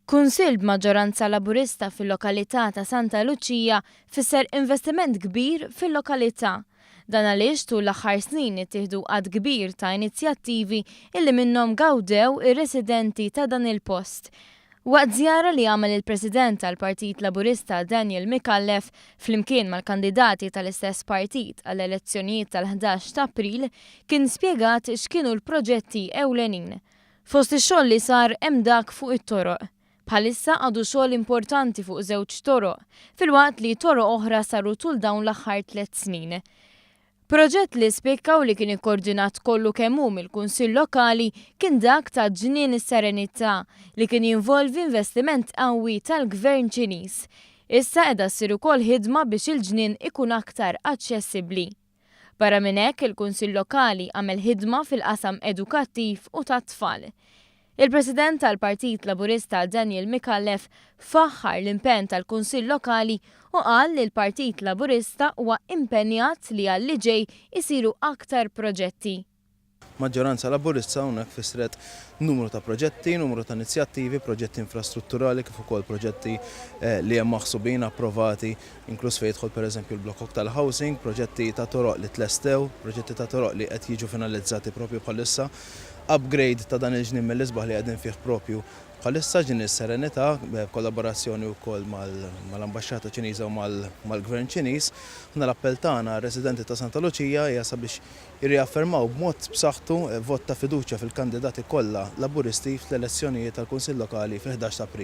Kunsill b'maġġoranza Laburista fil-lokalità ta' Santa Luċija fisser investiment kbir fil-lokalità. Dan għaliex tul l-aħħar snin ittieħdu għadd kbir ta' inizjattivi illi minnhom gawdew ir-residenti ta' dan il-post. Waqt żjara li għamel il-President tal-Partit Laburista Daniel Micallef flimkien mal-kandidati tal-istess partit għall-elezzjonijiet tal-ħdax t'April kien spjegat x'kienu l-proġetti ewlenin Fost ix-xogħol li sar hemm dak fuq it-toroq. Bħalissa għadu xogħol importanti fuq żewġ toroq, filwaqt li toroq oħra saru tul dawn l-aħħar tliet snin. Proġett li spikka u li kien ikkordinat kollu kemm hu mill-Kunsill Lokali kien dak ta' Ġnien is-Serenità li kien jinvolvi investiment qawwi tal-Gvern Ċiniż. Issa qiegħda ssir ukoll ħidma biex il-ġnien ikun aktar aċċessibbli. Barra minn hekk, il-Kunsill Lokali għamel ħidma fil-qasam edukattiv u tat-tfal. Il-President tal-Partit Laburista Daniel Micallef faħħar l-impenn tal-Kunsill Lokali u qal li l-Partit Laburista huwa impenjat li għal-li ġej isiru aktar proġetti. Maġġoranza Laburista hawnhekk fissret numru ta' proġetti, numru ta' inizjattivi, proġetti infrastrutturali kif ukoll proġetti li hemm maħsubin, approvati, inkluż fejn jidħol pereżempju l-blokkok tal-housing, proġetti ta' toroq li tlestew, proġetti ta' toroq li qed jiġu finalizzati propju bħalissa, upgrade ta' dan il-ġnien mill-isbaħ li qegħdin fih propju bħalissa, ġnien is-Serenità, b'kollaborazzjoni wkoll mal-Ambaxxata Ċiniża u mal-Gvern Ċiniż. Aħna l-appell tagħna għar-residenti ta' Santa Luċija hija sabiex Irriaffermaw b'mod b'saħħtu vot ta' fiduċja fil-kandidati kollha Laburisti fl-elezzjonijiet tal-Kunsill Lokali fil-ħdax ta' April.